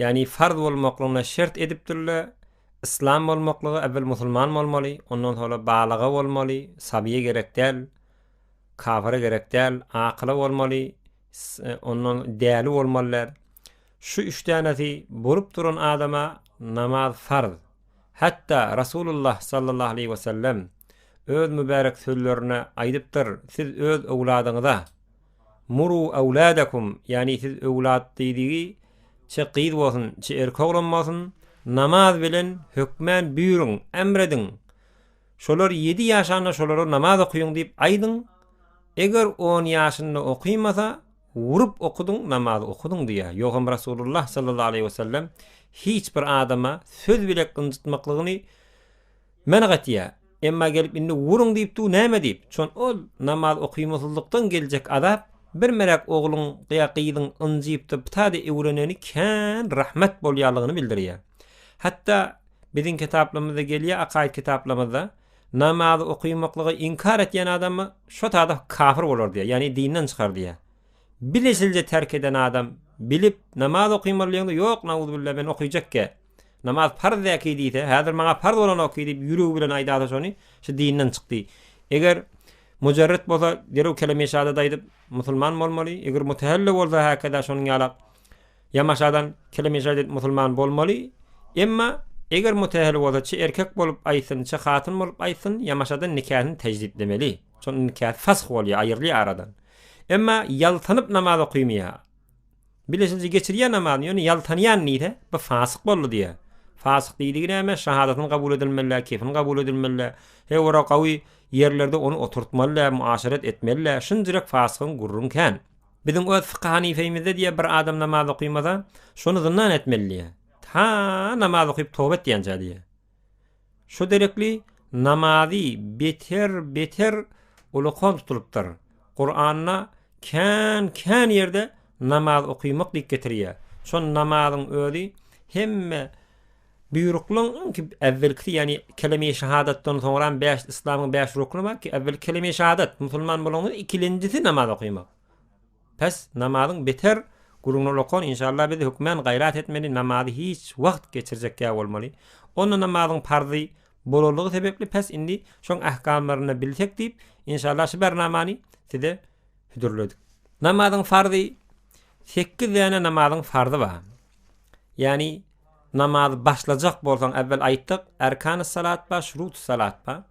Ýagny farz bolmaklygyna şert edipdirler, Yslam bolmaklygy äwel musulman bolmaly, ondan soňra balyga bolmaly, sabyýa gerek däl, kafyra gerek däl, akyla bolmaly, ondan däli bolmaly däl. Şu üç dänesi bolup duran adama namaz farz. Hatda Rasulullah sallallahu aleýhi wesellem öz mübärek sözlerinde aýdypdyr, Siz öz öwladyňyza, Muru awladakum, ýagny siz öwlat diýdigi çe gyz bolsun, çe erkek oglan bolsun, namaz bilen hökmän buýruň, emr ediň. Şolar ýedi ýaşanda şolara namaz okyň diýip aýdyň. Eger on ýaşynda okymasa, urup okudyň, namazy okudyň diýýär. Ýogsam Resulullah sallallahu aleýhi wesellem hiç bir adama söz bile ynjytmaklygyny Men gatyýa, emma gelip indi uruň diýipdi-u näme diýip, çon ol namaz okymasyzlykdan geljek azap, bir melek ogluň ýa gyzyň ynjypdy pta-da öwreneni kän rahmet bolýalygyny bildirýä. Hatda biziň kitaplamyzda gelýä akaýyt kitaplamyzda, namazy okymaklygy inkar etýän adamy şo tada kafir bolar diýä, ýagny dinden çykar diýä. Bilesilje terk eden adam bilip namaz okymalyýaňda ýok nauzubilla men okyjak-ä. Namaz parz däki diýse, häzir maňa parz bolanok ki diýip ýüregi bilen aýdasa şony, şu dinden çykdy. Eger Mujarret bolsa derew keleme-i şahadat aýdyp musulman bolmaly, eger Mutahalla bolsa häkeda şonuň ýala ýamaşadan keleme-i şahadat aýdyp musulman bolmaly, emma eger Mutahalla bolsa çi erkek bolup aýtsyn, çi hatyn bolup aýtsyn, ýamaşadan nikahyny täjditlemeli. Şonda nikahy fasy bolýar, aýrylýar aradan. Emma ýaltanyp namaz okymýar. Bilesinji geçirýär namazyny, ýöne ýaltanýan diýse, bu fasyk boldy diýýär. Fasyk diýdigi näme? Şahadatyny kabul edilmeli däl, kefini kabul edilmeli däl. He ora gawy ýerlerde ony oturtmaly däl, muaşeret etmeli däl. Şunjyrek fasygyň gürrüň kän. Biziň öz Fyky Hanifeýimizde diýýär, bir adam namaz okymasa, şony zyndan etmeli diýýär. Ta namaz okyp toba etýänçä diýýär. Şo derekli namazy beter beter ulukan tutulypdyr. Kuranda kän kän ýerde namaz okymak diýip getirýär. Şo namazyň özi hemme buýruklyň ki äwelkisi ýani kelime-i şahadatdan soňra hem bäş islamyň bäş rukny bar ki äwel kelime-i şahadat musulman bolanyň ikilenjisi namaz okymak. Pes namazyň beter gürrüňler okan inşallah biz hökmän gaýrat etmeli namazy hiç wagt geçirjekýa bolmaly onda namazyň parzy bolanlygy sebepli pes indi şoň ähkamlaryny bilsek diýip inşallah şu bernamany size hüdürledik. Namazyň farzy sekiz däne namazyň farzy bar ýagny namazy başlajak bolsaň äwwel aýtdyk erkany salat bar şuruty salat bar.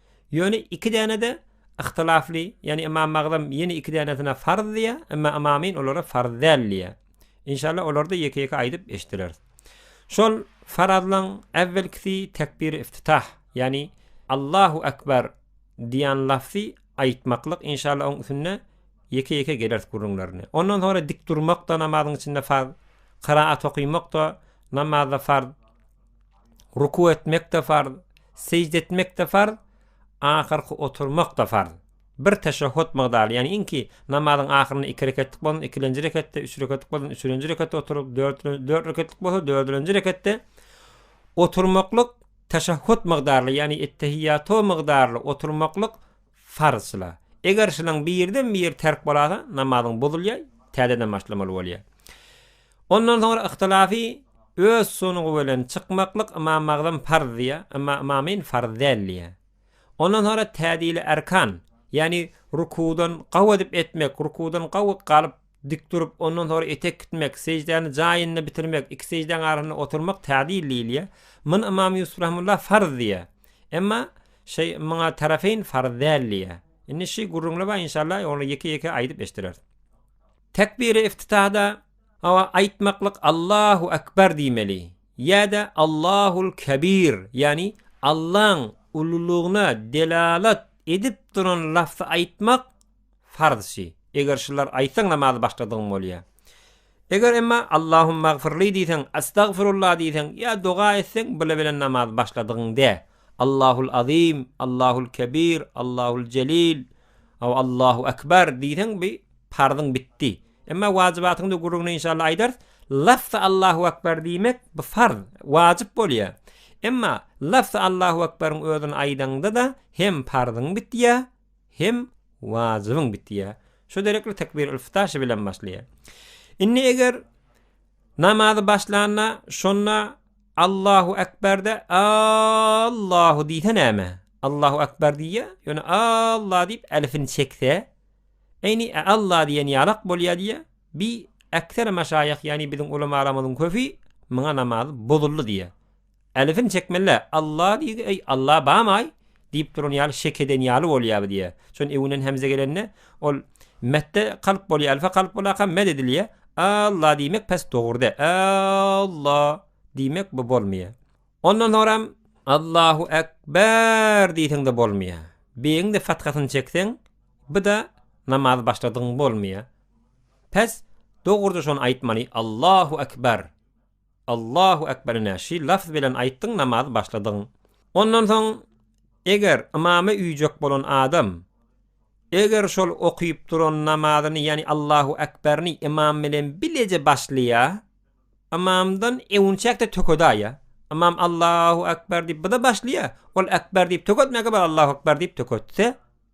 Ýöne iki däne-de yhtylafly, ýagny Ymam Magdam ýene iki dänesine farz diýýär, emma Ymamyn olara farz däl diýýär. Inşallah olary-da ýeke-ýeke aýdyp eşitdireris. Şol farazlaň äwwelkisi tekbiri iftitah, ýagny Allahu Ekber diýen lafzy aýtmaklyk, inşallah oň üstünde ýeke-ýeke geleris gürrüňlerine. Ondan soňra dik durmak-da namazyň içinde farz, kyraat okymak-da namazda farz. Ruku etmek-de farz, sežde etmek-de farz, ahyrky oturmak-da farz. Bir teşehhut mygdary, ýagny iňki namazyň ahyrynda iki reketlik bolan ikilenji reketde, üç reketlik bolan üçülenji reketde oturyp, dört dört reketlik bolsa dördülenji reketde oturmaklyk teşehhut mygdarly, ýagny ettehiýýato mygdarly oturmaklyk farz şyla. Eger şylaň birden-biri terk bolasa, namazyň bozulýar, täzeden başlamaly bolýar. Ondan soňra yhtylafi öz sunugy bilen çykmaklyk ymam magzym farz diýýär, ymma ymamyn farz däl diýýär. Ondan soňra tädili erkan, ýagny rukuwdan gaw edip etmek, rukuwdan gaw galyp dik durup, ondan soňra etek gitmek, sejdäni jaýynda bitirmek, iki sejdäň arasynda oturmak tädil diýilýär. Mun ymam Ýusup rahymullah farz diýýär. Emma şeý muňa tarafeýn farz däl diýýär. Indi şy gürrüňle bar inşallah, ony ýeke-ýeke aýdyp eşdereris. Tekbiri iftitahda hawa aýtmaklyk Allahu akbar diýmeli ýa-da Allahul kebir ýagny Allaň ululygyna delalat edip duran lafzy aýtmak farz şi eger şular aýtsaň namazy başladygyň bolýar. Eger emma Allahumagfirli diýseň, Astagfirulla diýseň ýa doga etseň bile bilen namazy başladygyň däl. Allahul azim, Allahul kebir, Allahul jelil, Aw Allahu Akbar diýseň bi parzyň bitdi. Emma wajibatyňda gürrüňini inşallah aýdarys. Lafzy Allahu Akbar diýmek bi farz, wajyp bolýar. Emma lafzy Allahu Akbaryň özüni aýdaňda-da hem parzyň bitýär, hem wajybyň bitýär. Şu derekli tekbir-ül-ftaşy bilen başlaýar. Indi eger Namazy başlanda, şonda Allahu Ekberde Allahu diýse näme? Allahu Ekber diýýär, ýöne Allah diýip elifini çekse, eýni Allah diýen ýalak bolýar diýýär. Bi ekser maşaýyh, ýagny biziň ulamalarymyzyň köpi muňa namaz bozuldy diýýär. Älesin çekmeli-le, Alla diýgi, eý, Alla bam-aý! diýip duran ýaly şek eden ýaly bolýar diýýär. Şonda öňünden hemze gelende, ol metde kalp bolýar, elfe kalp bolarka met edilýär. Alla diýmek pes dogrudy. Ä-ä-ä-lla diýmek bu bolmaýar. Ondan soňram Allahu ek-bär diýseň-de bolmaýar. Beýigiň-de fathasyny çekseň, bu-da namazy başladygyň bolmaýar. Pes dogrudy şony aýtmaly, Allahu ekber! Allahu Ekber ine şy lafz bilen aýtdyň namazy başladyň. Ondan soň eger ymama üýjek bolan adam eger şol okyp duran namazyny ýani Allahu Ekberini ymam bilen bileje başlaýa ymamdan ewünçäkde tökedaýa ymam Allahu Ekber diýip bda başlaýa ol Ekber diýip töketmäge bar Allahu Ekber diýip töketse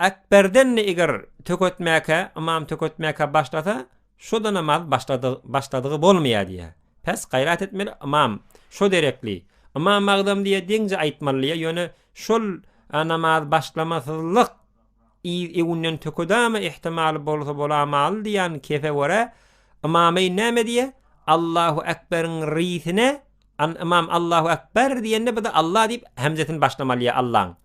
Ekberden-de eger töketmäkä, ymam töketmäkä başlasa, şo-da namaz başladygy bolmaýar diýýär. Pes gaýrat etmeli, ymam şo derekli, ymam agzam diýýär, deňje aýtmaly diýýär, ýöne şol namaz başlamasyzlyk yz-ewünden tökedama ihtimaly bolsa bolamaly diýýän kefe görä, ymamaýn näme diýýär, Allahu ekberiň risine, ymam Allahu ekber diýende, bu-da Allah diýip, hemzesini başlamaly diýýär, Allaň.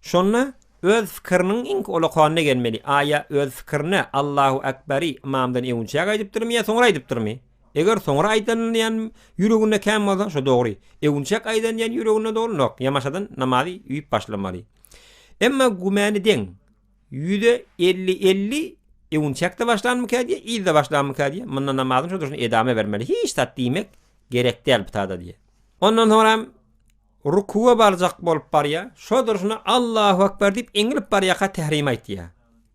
Şonda öz fikiriniň iňki olakanyna gelmeli, aýa öz fikirini Allahu Akbari ymamdan ewünçäk aýdypdyrmy ýa soňra aýdypdyrmy? Eger soňra aýdanyny diýen ýüreginde kän bolsa, şo dogry. Ewünçäk aýdan diýen ýüreginde dolanok. Ýamaşadan namazy üýüp başlamaly. Emma gümäni deň. Ýüze elli elli ewünçäkde başlanmyka diýe, yzda başlanmyka diýe, munda namazyň şo durşuna edama bermeli. Hiç zat diýmek gerek däl bu tada diýe. Ondan soňra hem Rukuga barjak bolup barýa, şo durşuna Allahu Ekber diýip eňilip barýaka tährimi aýtýa.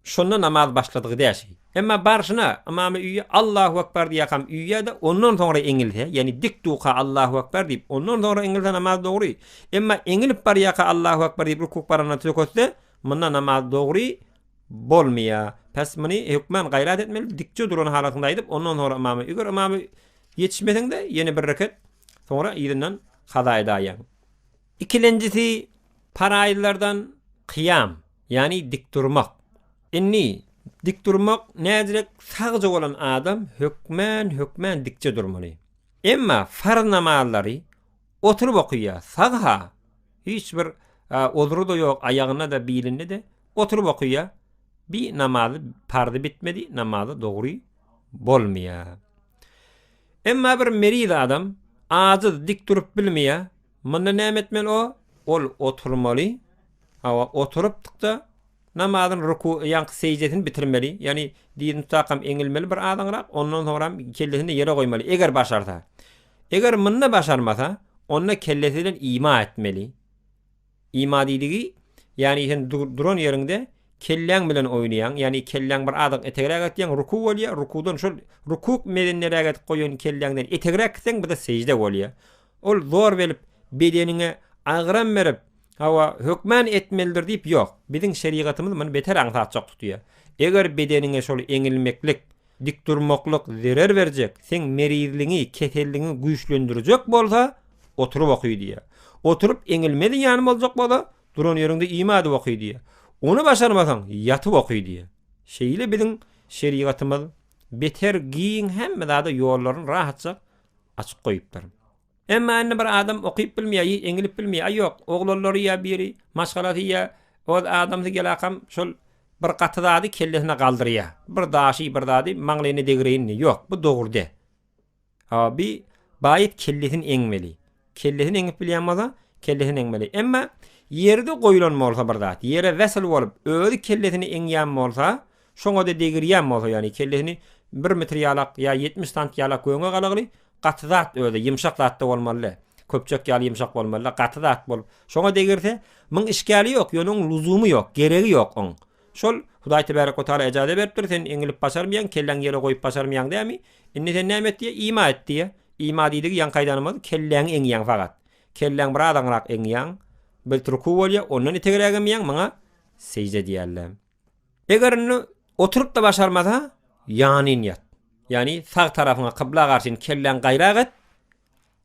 Şonda namaz başladygy däşi. Emma barşyna ymamy üýe Allahu Ekber diýakam üýe-de ondan soňra eňilse, ýagny dik duka Allahu Ekber diýip, ondan soňra eňilse namaz dogry. Emma eňilip barýaka Allahu Ekber diýip rukuk baranda söketse, munda namaz dogry bolmaýa. Pes muny hökman gaýrat etmeli, dikje duran halatynda aýdyp, ondan soňra ymamy. Eger ymamy ýetişmeseňde ýene bir reket. Soňra yzyndan kazaýa daýaň. Ikilenjisi paraýyllardan kyýam, ýagny dik durmak. Indi dik durmak näzirek sagja bolan adam hökmän hökmän dikje durmaly. Emma farz namazlary oturyp okyýa, sag-ha, hiç bir uzry-da ýok, aýagynda-da, bilinde-de, oturyp okyýa, bi namazy parzy bitmedi, namazy dogry bolmaýa. Emma bir meriz adam, acyz, dik durup bilmeýä. Munda näme etmeli o? Ol oturmaly. Hawa, oturypdyk-da, namazyny ruku, ýaňky seždesini bitirmeli. Ýagny dizini tutakam eňilmeli bir azaňrak, ondan soňram kellesini ýere goýmaly, eger başarsa. Eger munda başarmasa, onda kellesi bilen ima etmeli. Ima diýdigi, ýagny sen duran ýeriňde kelläň bilen oýnaýaň, ýagny kelläň bir azyk etegräk atýaň, ruku bolýar, rukudan şol rukuk mezenneräk edip goýan kelläňden etegräk gitseň bir-de sežde bolýar. Ol zor berip, bedeniňe agyram berip, hawa, hökman etmelidir diýip ýok. Biziň şerigatymyz muny beter aňsatjak tutýar. Eger bedeniňe şol eňilmeklik, Dik durmaklyk zerer berjek, seň merizligiňi, keselligiňi güýçlendirjek bolsa, oturyp oky diýýär. Oturyp eňilme zyýany boljak bolsa, duran ýeriňde iýme adyp oky diýýär. Ony başarmasaň, ýatyp oky diýýär. Şeýle biziň şerigatymyz beter giň hemme zada ýollaryny rahatja açyp goýupdyr. Emma indi bir adam okyp bilmeýär ýa eňilip bilmeýär. Aý ýok, oglallary ýa biri, maşgalasy ýa oz adamsy gelakam şol bir gaty zady kellesine galdyrýar. Bir daşy bir zady maňlaýyna degireýin diýýär. Ýok, bu dogry däl. A bi baýyt kellesini eňmeli. Kellesini eňip bilýän bolsa, kellesini eňmeli. Emma ýerde goýlan bolsa bir zat, ýere wesel bolup, özi kellesini eňýän bolsa, Şoňa-da degirýän bolsa, ýagny kellesini bir metr ýalak ýa ýetmiş santy ýalak göwne galagly, gaty zat özi, ýymşak zat-da bolmaly-dä. Köpjek ýaly ýymşak bolmaly-dä, gaty zat bolup, şoňa degirse, muň işgäli ýok, ýöne oň luzumy ýok, geregi ýok oň. Şol, Hudaý tebärek we taala ejaza beripdir, sen eňilip başarmaýaň, kelläňi ýere goýup başarmaýaň dämi? Indi sen näme et diýýä, ima et diýýä. Ima diýdigi ýaňky aýdanymyz, kelläňi eňýäň fakat. Kelläňi biraz aňrak eňýäň, bilt ruku bolýa, ondan itegräk emýäň, muňa sežde diýýärler. Eger indi oturyp-da başarmasa, ýanyn ýat. Ýani sag tarapyňa kybla garşyn kelläň gaýrak et.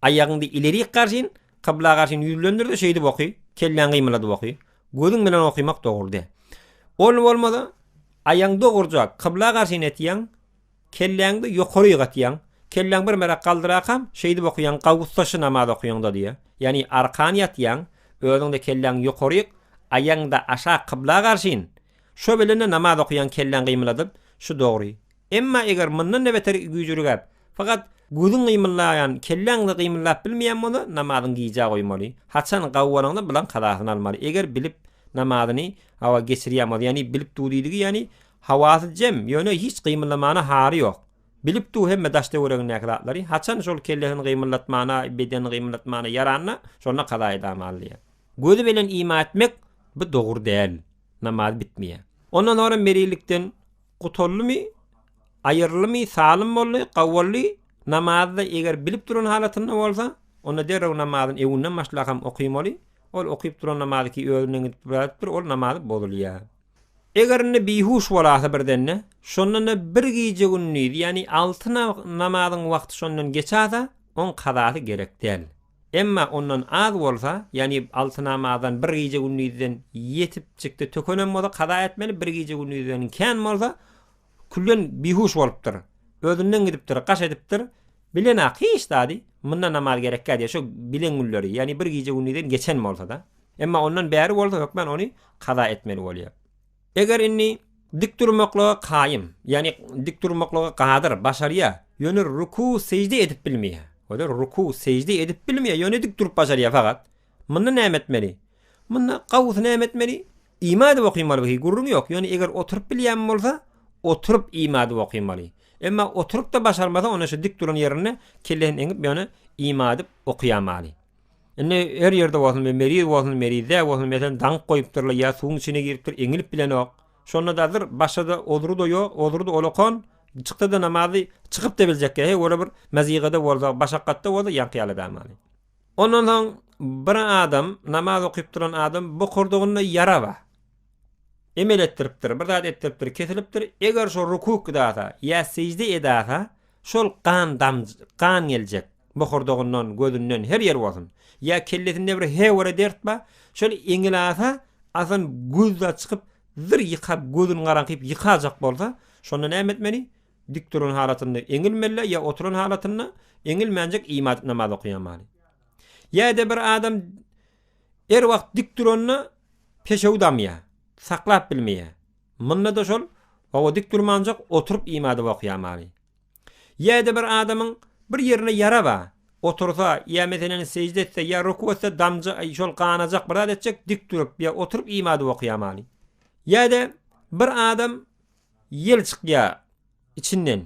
Aýagyňdy ilerik garşyn, kybla garşyn ýüzlendir-de şeýdip oky, kelläň gymyladyp oky. Gözüň bilen okymak dogry däl. Ol bolmasa, aýagyň dogruja kybla garşyn etýäň, Kelläňde ýokary ýygatýaň. Kelläň bir merak galdyrakam, şeýdip okaýaň, gawus daşy namaz okaýaňda diýýä. Ýagny arkan ýatýaň, özüňde kelläň ýokaryk, aýagyňda aşak kybla garşyn. Şo bilen-de namaz okaýaň kelläň gymyladyp, şu dogry. Emma eger mundan-da beter güýjürikäp, fakat gözüň gymyllaýan, kelläň-de gymyllap bilmeýän bolsa, namazyňy gijä goýmaly. Haçan gawanyňda bulan kazasyny almaly. Eger bilip namazyny, hawa, geçirýän bolsa, ýagny bilip dudydigi, ýagny Hawasy jem, ýöne hiç gymyldamana hary ýok. Bilip dur hemme daş-töweregindäki zatlary. Haçan şol kellesini gymyldatmana, bedenini gymyldatmana ýaranda, şonda kazaýy damal diýýär. Gözi belen ima etmek, bu dogry däl. Namaz bitmeýär. Ondan soňra merilikden gutuldymy, aýyryldymy, salym boldy, gawuldy, namazda eger bilip duran halatynda bolsa, onda derrew namazyny öwünden başlakam okamaly. Ol okyp duran namazy ki özünden gidip birazdyr, ol namazy bozulýar. Eger indi bihuş bolasa birdende, şonda-da bir gije-gündizi, ýagny alty namazyň wagty şondan geçasa, oň kazasy gerek däl. Emma ondan az bolsa, ýagny alty namazdan bir gije-gündizden ýetip çykdy, tökenem bolsa kaza etmeli, bir gije-gündizden kän bolsa, küllen bihuş bolupdyr, özünden gidipdir, gaş edipdir, bilenak hiç zady, munda namaz gerekkä diýýär, şo bilen günleri, ýagny bir gije-gündizden geçen bolsa-da. Emma ondan bäri bolsa hökmän ony kaza etmeli bolýar. Eger indi dik durmaklyga kaýym, ýagny dik durmaklyga gadyr, başarýar, ýöne ruku, sežde edip bilmeýär. Görýär, ruku, sežde edip bilmeýär, ýöne dik durup başarýar fakat. Munda näme etmeli? Munda gawusy näme etmeli? Ima edip okymaly bu, gürrüň ýok. Ýöne eger oturyp bilýän bolsa, oturyp ima edip okymaly. Emma oturyp-da başarmasa, onda şu dik duran ýerinde kellesini eňip, ýöne ima edip okýamaly. Indi her ýerde bolsun, bir meriz bolsun, merizdä bolsun, meselem, daňyp goýupdyrlar ýa suwuň içine giripdir, eňilip bilenok. Şonda-da dyr, başga-da ozry-da ýok, ozry-da olakan, çyksa-da namazy, çykyp-da biljek ýa, he, ola bir maziga-da bolsa, başakgat-da bolsa, ýaňky ýaly däl. Ondan soň bir adam, namaz okyp duran adam, bokurdagyna ýara bar. emel etdiripdir, bir zat etdiripdir, kesilipdir, eger şo ruku kydasa ýa sežde edasa, şol gan dam, gan geljek, bohurdagyndan, gözünden, her ýeri bolsun, ýa kellesinde bir hewere dert bar, şol eňil asa, asan göz zat çykyp, zyr ýykap, gözüni garaňkyp ýykajak bolsa, şonda näme etmeli? Dik duran halatynda eňilmeli ýa oturan halatynda, eňilmänjik ima edip namaz okaýamaly. Ýa-da bir adam, Her wagt dik duranda peşew damýar, saklap bilmeýär. Munda-da şol, hawa dik durmanjak oturyp iýmade okaýamaly. Ýa-da bir adamyň bir ýerine ýara bar, otursa ýa meselen sežde etse ýa ruku etse damja şol ganajak bir zat etjek dik durup ýa oturyp iýmade okaýamaly. Ýa-da bir adam Ýel çykýar içinden.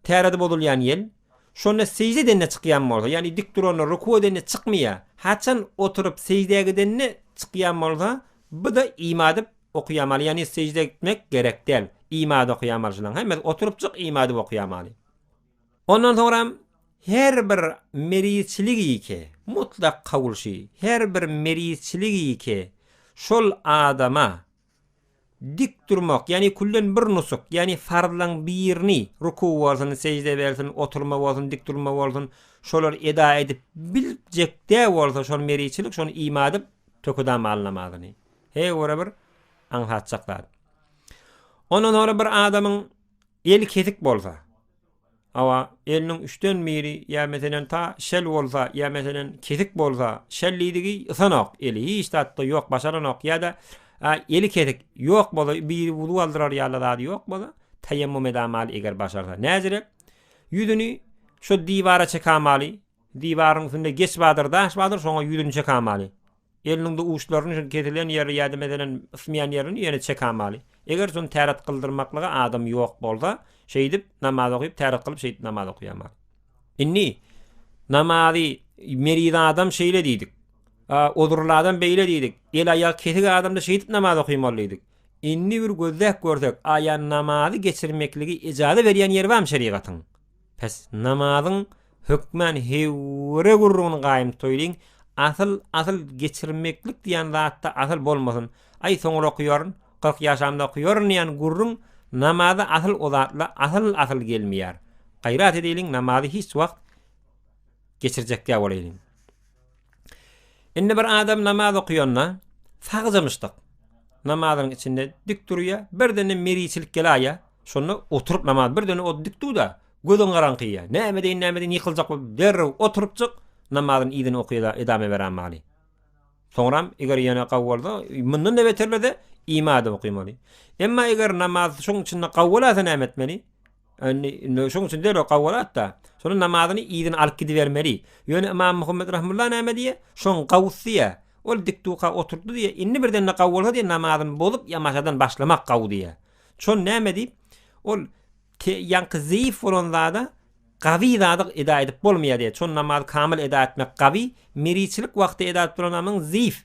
Täredi bozulýan ýel. Şonda sežde edende çykýan bolsa, ýagny dik duranda, ruku edende çykmaýar. Haçan oturyp seždä gidende çykýan bolsa, bu-da ima edip okaýamaly, ýagny sežde etmek gerek däl. Ima edip okaýamaly şunuň. Hemmesi oturypjyk ima edip okaýamaly. Ondan soňram her bir merizçilik ýeke, mutlak kabul şi, her bir merizçilik ýeke şol adama, Dik durmak, ýagny külden bir nusuk, ýagny farzlaň birini, ruku bolsun, sežde bolsun, oturma bolsun, dik durma bolsun, şolar eda edip biljek-de bolsa şony meriçilik, şony ima edip, tökedan maly namazyny. He ora bir aňsatjak zat. Ondan soňra bir adamyň eli kesik bolsa, Hawa, eliniň üçden biri ýa meselen ta şel bolsa, ýa meselen kesik bolsa, şel diýdigi ysanok, eli hiç zatda ýok, başaranok ýa-da eli kesik, ýok bolsa, biri wuzu aldyrar ýaly zady ýok bolsa, taýammum edamaly eger başarsa. Näzirek, ýüzüni şo diwara çekamaly, Diwaryň üstünde geç badyr, daş badyr, şoňa ýüzüni çekamaly. Eliniňde uçlaryny şol kesilen ýeri ýa-da meselem ysmaýan ýerini ýene çekamaly. Eger şony täret gyldyrmaklyga adam ýok bolsa, şeýdip namaz okyp, täret gylyp şeýdip namaz okamaly. Indi namazy meriz adam şeýle diýdik. Uzurly adam beýle diýdik. El aýagy kesik adamda şeýdip namaz okamaly diýdik. Indi bir gözläp görsek, aýan namazy geçirmekligi ejaza berýän ýeri barmy şerigatyň? Pes namazyň hökmän hewwire gürrüňini gaýym toýlyň asyl asyl geçirmeklik diýen zatda asyl bolmasyn aý soňra okuýaryn kyrk ýaşamda okuýaryn diýen gürrüň namaza asyl o zatla asyl asyl gelmeýär gaýrat edeliň namazy hiç wagt geçirjekdä bolaýlyň. Indi bir adam namaz okaýanda sagja-myşsak namazynyň içinde dik durýar, birdenem meriçilik gelaýýar, şonda oturyp namaz birdenem o dik dur-da, gözüň garaňkaýýar, näme edeýin, näme edeýin ýykyljak bolup derrew oturypjyk namazyny yzyna okaýar-da edame berämali. Soňram eger ýene gawy bolsa, mundan-da beterlese ima edip okamaly. Emma eger namaz şoň içinde gawy bolasa näme etmeli? Indi şoň üçin derrew gabga dat-da, şonuň namazyny yzyna alyp gidibermeli. Ýöne ymam Muhammet rahymullah näme diýýär? Şoň gawusy diýýär. Ol dikduka oturtdy diýýär. Indi birden-de gawy bolsa diýýär, namazyny bozup, ýamaşadan başlamak gawy diýýär. Şony näme diýip, ol ýaňky zeýif bolan zada gawy zady eda edip bolmaýar diýýär. Şony namazy kamyl eda etmek gawy, meriçilik wagty eda edip duran namyň zeýif.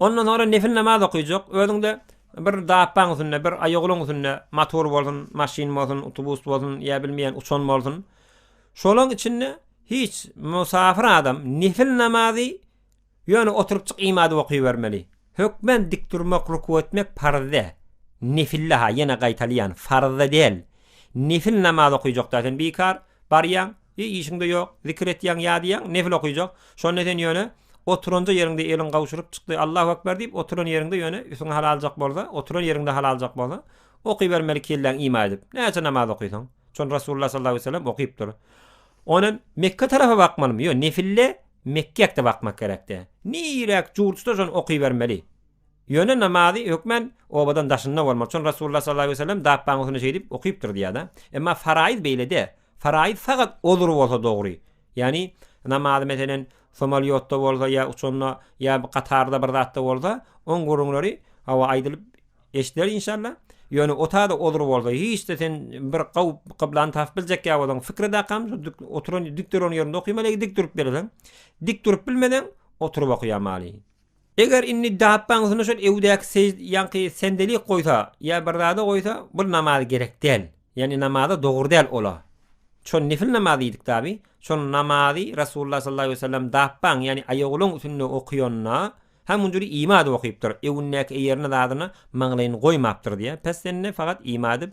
Ondan soňra nefil namaz okuyjak. Özüňde bir dabbaň üstünde, bir aýagulaň üstünde, motor bolsun, maşyn bolsun, utubus bolsun, ýa bilmeýän uçan bolsun. Şolaň içinde hiç musafir adam nefil namazy ýöne oturypjyk imadyp okybermeli. Hökmän dik durmak, ruku etmek parzde. Nefilde-ha, ýene gaýtalýan, farzda däl. Nefil namaz okuyjakda sen bikar barýaň. Eý, işiň-de ýok, zikir etýäň, ýa diýýäň, nefil okyjak. Şonda sen ýöne oturanja ýeriňde eliň gawşuryp çykdy, Allahu ekber diýip, oturan ýeriňde ýöne üsüň halaljak bolsa, oturan ýeriňde halaljak bolsa, okybermeli kelläň ima edip. Näçe namaz okysaň. Şony Resulullah sallallahu aleýhi we sellem okypdyr. Ondan Mekge tarapa bakmalymy? Ýok, nefilde Mekgäkde bakmak gerek-dä. Niräk jurtsa şony okybermeli. Ýöne namazy hökmän obadan daşynda bolmaly. Şony Resulullah sallallahu aleýhi we sellem dabbaň üstünde şeýdip okypdyr diýýär-de. Emma faraýyz beýle däl. Faraid sagat ozur bolsa dogry. Ýagny namazy meselen somalýotda bolsa ýa uçanda ýa gatarda bir zatda bolsa oň gürrüňleri hawa aýdylyp eşdiler inşallah. Ýöne otada ozur bolsa hiçde sen bir gaw kyblany tapyp biljek ýa bolan fikri dakam oturan dik duran ýerinde okymaly dik durup bileseň. Dik durup bilmeseň oturyp okýamaly. Eger indi Dapbaň üstüne şol ewdäki seý ýaňky sendelik goýsa ýa bir zada goýsa bul namaz gerek däl. Ýagny namaza dogry däl ola. Şon nefil namaz diýdik dabi. Şon namazy Resulullah sallallahu aleýhi wesellem Dapbaň ýagny aýagulaň üstünde okyanda ha munjury ima edip okypdyr. Öwündäki eýerine zadyna maňlaýyny goýmapdyr diýä. Pessende fagat ima edip